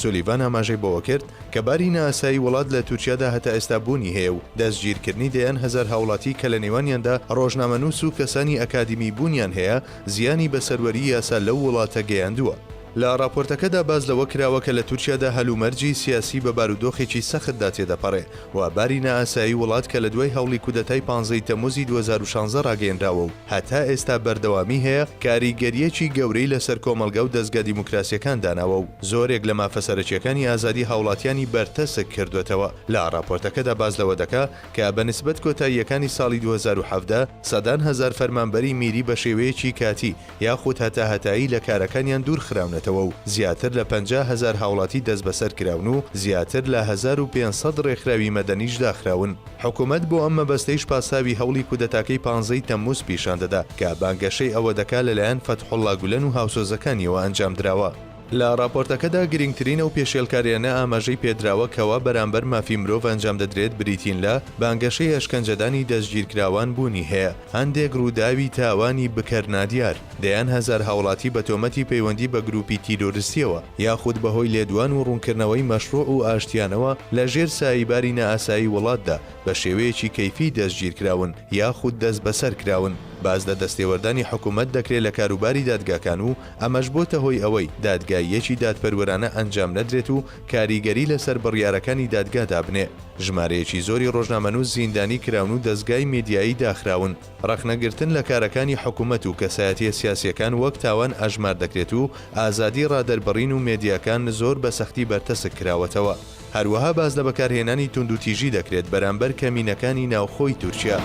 سولیڤان ئاماژەی بەوەکرد، کە باری نائاسایی وڵات لە تورکیادا هەتا ئێستا بوونی هەیە و دەستگیرکردنی دەیان هەزار هاوڵاتی کە لە نێوانیاندا ڕۆژنامەنووس و کەسانی ئەکادیمی بوونیان هەیە، زیانی بە سەروەریی یاسا لەو وڵاتە گەیاندووە. لە ڕاپۆرتەکەدا باس لەوە کراوە کە لە تورکیادا هەلومەرجی سیاسی بە بارودۆخێکی سەختدا تێدەپەڕێ و باری نائاسایی وڵات کە لە دوای هەوڵی کودەتای پانزەی تەمووزی دوو هەزار و شانزە ڕاگەیەنراوە و هەتا ئێستا بەردەوامی هەیە، کاریگەرییەکی گەورەی لەسەر کۆمەڵگا و دەزگا دیموکراسییەکان داناوە و زۆرێک لە مافە سەرەکییەکانی ئازادی هاوڵاتیانی بەرتەسک کردووەتەوە، لە ڕاپۆرتەکەدا باس لەوە دەکا کە بە نسبەت کۆتاییەکانی ساڵی دوو هەزار و حەڤدە سەدان هەزار فەرمانبەری میری بە شێوەیەکی کاتی یاخود هەتا هەتایی لە کارەکانیان دوور خراونەتەوە و زیاتر لە پەنجا هەزار هاوڵاتی دەستبەسەر کراون و زیاتر لە هەزار و پێنج سەد ڕێکخراوی مەدەنیش داخراون. حکومەت بۆ ئەم مەبەستەیش پاساوی هەوڵی کودەتاکەی پانزە ی تەمموز پیشان دەدا کە بانگەشەی ئەوە دەکا لەلایەن فەتحوڵڵا گولەن و هاوسۆزەکانیەوە ئەنجام دراوە. لە ڕاپۆرتەکەدا گرینگترین ئەو پێشێلکارییانە ئاماژەی پێ دراوە کەوا بەرامبەر مافی مرۆڤ ئەنجام دەدرێت بریتین لە، بانگەشەی ئەشکەنجەدانی دەستگیرکراوان بوونی هەیە، هەندێک ڕووداوی تاوانی بکەر نادیار، دەیان هەزار هاوڵاتی بە تۆمەتی پەیوەندی بە گرووپی تیرۆرستییەوە یاخود بە هۆی لێدوان و ڕوونکردنەوەی مەشڕووع و ئاشتیانەوە لە ژێر ساییباری نائاسایی وڵاتدا بە شێوەیەکی کەیفی دەستگیر کراون یاخود دەستبەسەر کراون، باس لە دەستێوەردانی حکوومەت دەکرێ لە کاروباری دادگاکان و ئەمەش بۆتە هۆی ئەوەی دادگاییەکی دادپەروەرانە ئەنجام نەدرێت و کاریگەری لەسەر بڕیارەکانی دادگا دابنێ. ژمارەیەکی زۆری ڕۆژنامەنووس زیندانی کراون و دەزگای میدیایی داخراون. ڕەخنەگرتن لە کارەکانی حکومەت و کەسایەتییە سیاسییەکان وەک تاوان ئەژمار دەکرێت و ئازادی ڕادەربڕین و مێدیاکان زۆر بە سەختی بەرتەسک کراوەتەوە. هەروەها باس لە بەکارهێنانی توندوتیژی دەکرێت بەرامبەر کەمینەکانی ناوخۆی تورکیا.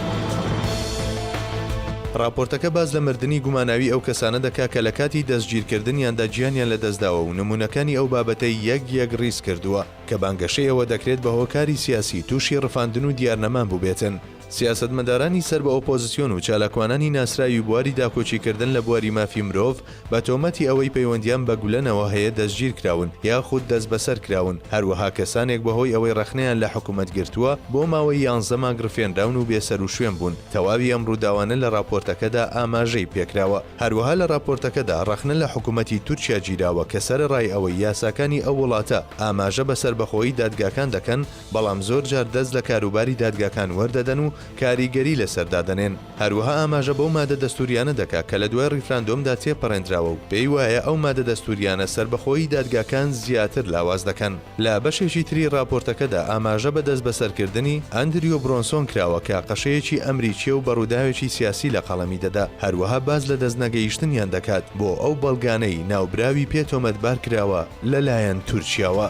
ڕاپۆرتەکە باس لە مردنی گوماناوی ئەو کەسانە دەکا کە لە کاتی دەستگیرکردنیاندا گیانیان لەدەستداوە و نموونەکانی ئەو بابەتەی یەک یەک ڕیز کردووە کە بانگەشەی ئەوە دەکرێت بە هۆکاری سیاسی تووشی ڕفاندن و دیارنەمان بووبێتن. سیاسەتمەدارانی سەر بە ئۆپۆزسیۆن و چالاکوانانی ناسراوی بواری داکۆکیکردن لە بواری مافی مرۆڤ، بە تۆمەتی ئەوەی پەیوەندیان بە گولەنەوە هەیە دەستگیرکراون یاخود دەستبەسەرکراون، هەروەها کەسانێک بەهۆی ئەوەی رەخنەیان لە حکومەت گرتووە بۆ ماوەی یانزە مانگ رفێنراون و بێسەروشوێن بوون، تەواوی ئەم رووداوانە لە راپۆرتەکەدا ئاماژەی پێکراوە، هەروەها لە راپۆرتەکەدا رەخنە لە حکومەتی تورکیا گیراوە کە سەرەڕای ئەوەی یاساکانی ئەو وڵاتە ئاماژە بە سەربەخۆیی دادگاکان دەکەن، بەڵام زۆرجار دەست لە کاروباری دادگاکان وەردەدەن و کاریگەری لەسەر دادەنێن. هەروەها ئاماژە بەو مادە دەستووریانە دەکا کە لە دوای ڕیفراندۆمدا تێپەڕێندراوە و پێی وایە ئەو مادە دەستووریانە سەربەخۆیی دادگاکان زیاتر لاواز دەکەن. لە بەشێکی تری ڕاپۆرتەکەدا ئاماژە بە دەستبەسەرکردنی ئەندریۆ برۆنسۆن کراوە کە قەشەیەکی ئەمریکییە و بە ڕووداوێکی سیاسی لە قەڵەمی دەدا، هەروەها باس لە دەستنەگەیشتنیان دەکات بۆ ئەو بەڵگانەی ناوبراوی پێ تۆمەتبار کراوە لەلایەن تورکیاوە.